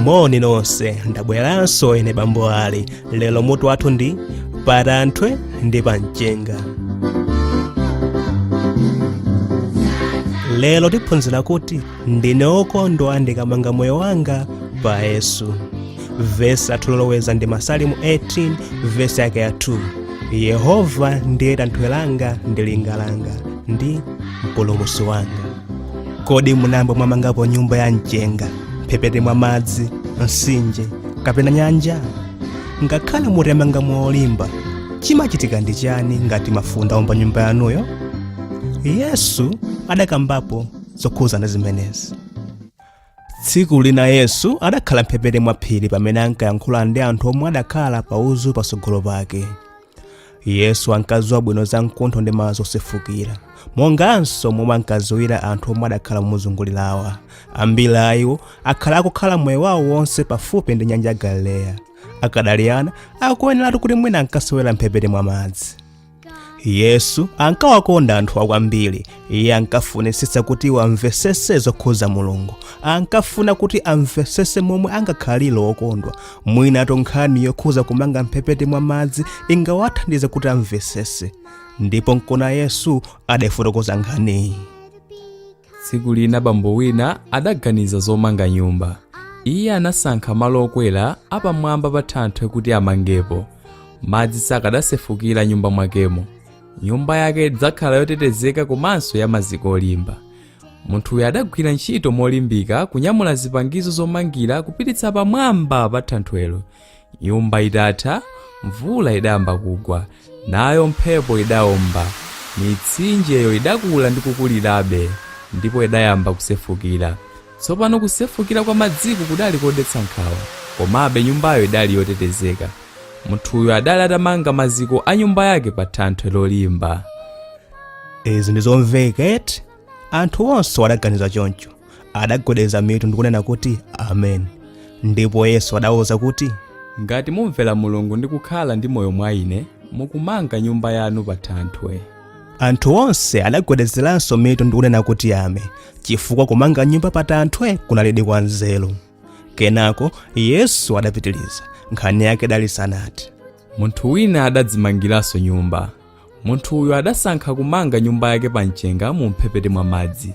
moni nonse ndabweranso ine bambo ali lero mutu wathu ndi patanthwe ndi pamchenga lero tiphunzira kuti ndine wokondwa ndikamanga moyo wanga pa yesu vesi yathu yoloweza ndi masalimo 18 vesi yake ya 2 yehova ndiye tanthwe langa ndi linga langa ndi mpulumusi wanga kodi munayamba mwamangapo nyumba ya mchenga mphepete mwa madzi mtsinje kapena nyanja ngakhale mutamanga molimba chimachitika ndi chani ngati mafunde aomba nyumba yanuyo yesu adakambapo zokhuzana ndi zimenezi tsiku lina yesu adakhala mphepete mwa phiri pamene ankayankhula ndi anthu omwe adakhala pa uzu patsogolo pake yesu ankadziwa bwino za mkuntho ndi madzi osefukira monganso momwe ankadziwira anthu omwe adakhala momuzungulirawa ambiri a iwo akhala akukhala moyo wawo wonse pafupi ndi nyanja ya galileya akadali ana akuyeneratu kuti mwina ankasewera mphepete mwa madzi yesu ankawakonda anthuwa kwambiri iye ankafunitsitsa kuti iwo amvesese zokhuza mulungu ankafuna kuti amvesese momwe angakhalire okondwa mwinatu nkhani yokhuza kumanga mphepete mwa madzi ingawathandize kuti amvesese ndipo nkuona yesu adafotokoza nkhaniyi tsiku lina bambo wina adaganiza zomanga nyumba iye anasankha malo okwera apamwamba pa thanthwe kuti amangepo madzi sakadasefukira m'nyumba mwakemo nyumba yake idzakhala yotetezeka komanso ya maziko olimba munthuyo adagwira ntchito molimbika kunyamula zipangizo zomangira kupititsa pamwamba pa thanthwelo Nyumba itatha, mvula idayamba kugwa, nayo mphepo idaomba. Mitsinjeyo idakula ndi kukulirabe, ndipo idayamba kusefukira. Tsopano kusefukira kwa madziku kudali kodetsa nkhawa, komabe nyumbayo idali yotetezeka. Munthuyo adali atamanga maziko a nyumba yake pa thanthwe lolimba. Izi ndi zomveka eti? Anthu onse adaganiza choncho. adagwedeza mitu ndikunena kuti amen ndipo yesu adawauza kuti ngati mumvera mulungu ndi kukhala ndi moyo mwa ine mukumanga nyumba yanu pa thanthwe anthu onse adagwedezeranso mitu ndikunena kuti amen chifukwa kumanga nyumba pa thanthwe kunalidi kwa nzeru kenako yesu adapitiriza nkhani yake idali isanathe munthu wina adadzimangiranso nyumba munthuyo adasankha kumanga nyumba yake pa mchenga mu mphepete mwa madzi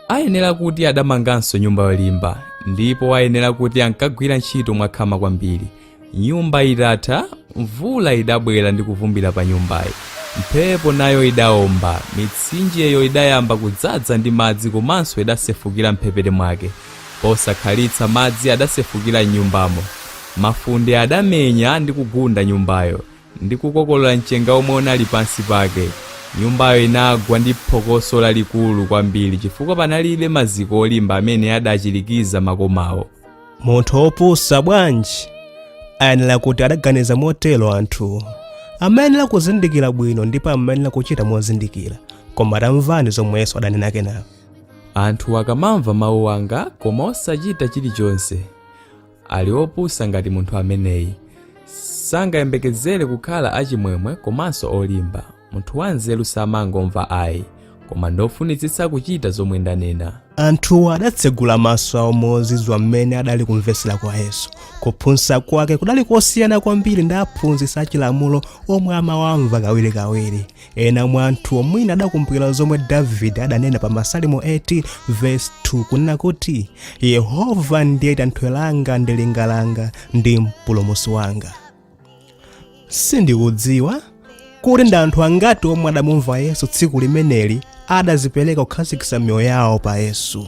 ayenera kuti adamanganso nyumba yolimba ndipo ayenera kuti ankagwira ntchito mwakhama kwambiri nyumba itatha mvula idabwera ndi kuvumbira pa nyumbayi mphepo nayo idaomba mitsinjeyo idayamba kudzaza ndi madzi komanso idasefukira mphepete mwake posakhalitsa madzi adasefukira m'nyumbamo mafunde adamenya ndi kugunda nyumbayo ndi kukokolola mchenga womwe unali pansi pake. Nyumbayo inagwa ndi phokoso lalikulu kwambiri chifukwa panalibe maziko olimba amene adachirikiza makomawo. munthu wopusa bwanji ayenera kuti adaganiza motero anthu amayenera kuzindikira bwino ndipo amayenera kuchita mozindikira koma tamvani zomwe yesu adanena kenako Anthu akamamva mawu anga koma osachita chilichonse, ali opusa ngati munthu ameneyi sangayembekezere kukhala achimwemwe komanso olimba munthu wanzeru samangomva ayi koma ndofunitsitsa kuchita zomwe ndanena anthuwo adatsegula maso awo mozizwa mmene adali kumvetsera kwa yesu kuphunzitsa kwake kudali kosiyana kwambiri ndi aphunzitsi achilamulo omwe amawamva kawirikawiri ena mwa anthuwo mwina adakumbukira zomwe davide adanena pa masalimo 18 vesi 2 kunena kuti yehova ndiye thanthwe langa ndi linga langa ndi mpulumutsi wanga sindikudziwa kuti ndi anthu angati omwe adamumva yesu tsiku limeneli adadzipereka kukhazikitsa miyoyo yawo pa yesu